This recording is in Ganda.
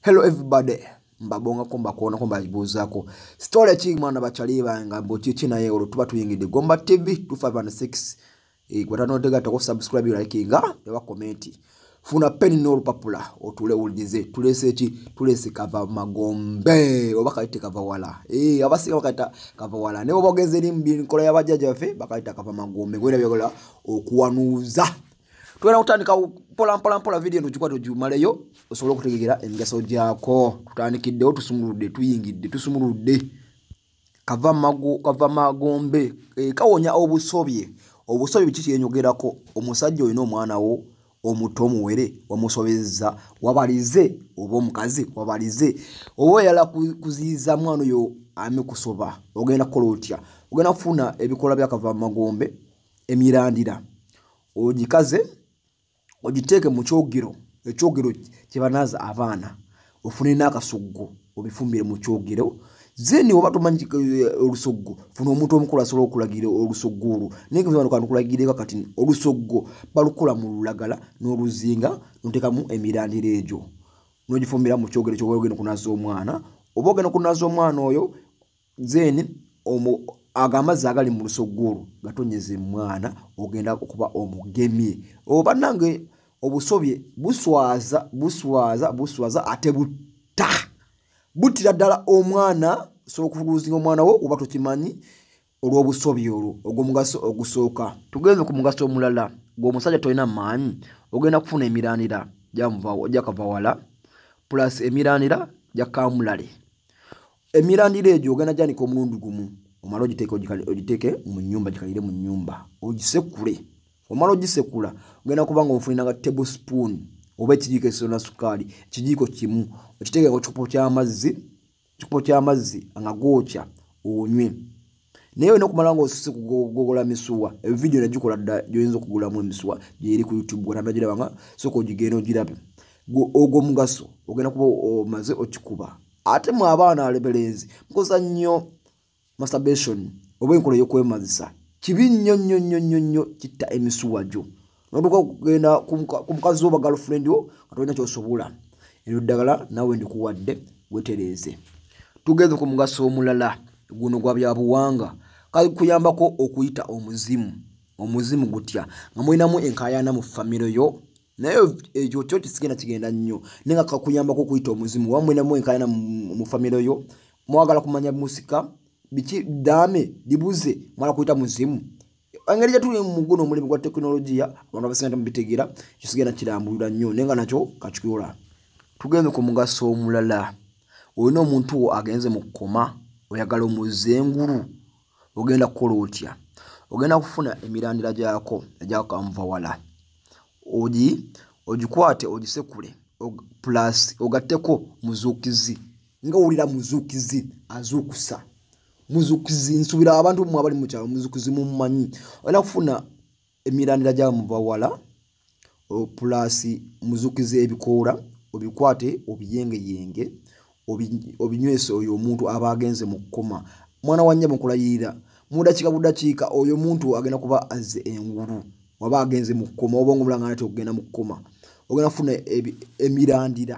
hello everybody mbabongako mbakuonako mbabuuzako story ki mwana bakyali banga mbu kiki naye olwo tuba tuyingidde gomba tv 256 eh, gwatanotegatako subscribe likinga ewa komenti funa peni n'olupapula otule owulirize tulese eki tulese kava magombe oba kayite kava wala ee eh, abasinga bakayita kava wala naye oba ogenze eri mu nkola y'abajjajja baffe bakayita kava magombe gwena byagola okuwanuuza tugenda kutandika mpolampolampola vidiyo eno gikwata ogimaleyo osobole okutegegera emigaso gyako tutandikiddewo tusumuludde tuyingidde tusumuludde kava magombe eh, kawonya obusobye obusobye biki kyenyogerako omusajja olina omwana wo omuto omuwere wamusobezza wabalize oba omukazi wabalize oba oyala kuziyiza mwana oyo amikusoba ogenda kukola otya ogenda kufuna ebikolwa byakava magombe emirandira ogikaze ogiteeke mu kyogero ekyogero kye banaaza abaana ofune n'akasoggo obifumbire mu kyogero zeni oba tomanyi eh, olusoggo funa omuntu omukulu asobola okulagira olusoggo olwo naye kanukulagireeko kati olusoggo balukula mu lulagala n'oluzinga notekamu emirandira egyo nogifumbira mu kyogero kyoba ogenda okunaaza omwana oba ogenda okunaaza omwana oyo then omu ago amazzi agali mu lusoggo olwo gatonyeza emwana ogenda okuba omugemye oba oh, nange obusobye buswaza buswaza buswaza ate butta buttira ddala omwana osobola okufuluuzinga omwana wo oba tokimanyi olw'obusobye olwo ogw'omugaso ogusooka tugenze ku mugaso omulala gweomusajja tolina maanyi ogenda kufuna emirandira jakava wala plus emirandira jakamulale emirandira egyo ogenda gyanika omulundi gumu omala ogiteeke mu nyumba gikalire mu nyumba ogisekule omala ogisekula ogenda kuba nga omufuninanga table spoon oba ekijiiko ekisona sukaali ekijiiko kimu okiteekeko kikopo kyamazzi kikopo kyamazzi nga gookya onywe naye olina okumala nga osise kugogola misuwa evidiyo nagikola dda gyoyinza okugulamu emisuwa gyeri ku youtube gwananagirabanga soka ogigenda ogirabe ogwo omugaso ogenda kuba omaze okikuba ate mwe abaana alebelenzi mukoza nnyo masturbation oba enkola eyokwemazisa kibi nnyo nnyo nnyo nnyo nnyo kitta emisuwa gyo notuka okugenda ku mukazi wo bagalfriend wo nga tolina kyosobola eryo ddagala nawe ndikuwadde wetereeze tugeze ku mugaso omulala guno gwa byabuwanga kakuyambako okuyita omuzimu omuzimu gutya nga mulinamu enkayana mu famiro yo naye ekyo kyo kisigenda kigenda nnyo naye nga kakuyambako okuyita omuzimu oba mulinamu enkayana mu famiro yo mwagala kumanya musika biki dame libuze mwala kuyita muzimu engeri gyetuli muguno omulimu gwa tekinologiya abantu abasinga temubitegeera kisigenda kirambulira nnyo naye nga nakyo kakikola tugenze ku mugaso omulala olina omuntu wo agenze mu kukoma oyagala omuzza engulu ogenda kukola otya ogenda kufuna emirandira gyako egyakanva wala ogi ogikwate ogisekule plus ogatteko muzuukizi nga owulira muzuukizi azuukusa muzukizi nsubira abantu mwe abali mu kyalo muzukizi mumanyi olina kufuna emirandira gya mubawala pulasi muzukiza ebikoola obikwate obiyengeyenge obinywesa oyo omuntu aba agenze mu kukoma mwana wa nyabo nkulayirira mudakiika budakiika oyo omuntu agenda kuba azze engulu waba agenze mu kukoma obonga omulanga nate okugenda mu kukoma ogenda kufuna emirandira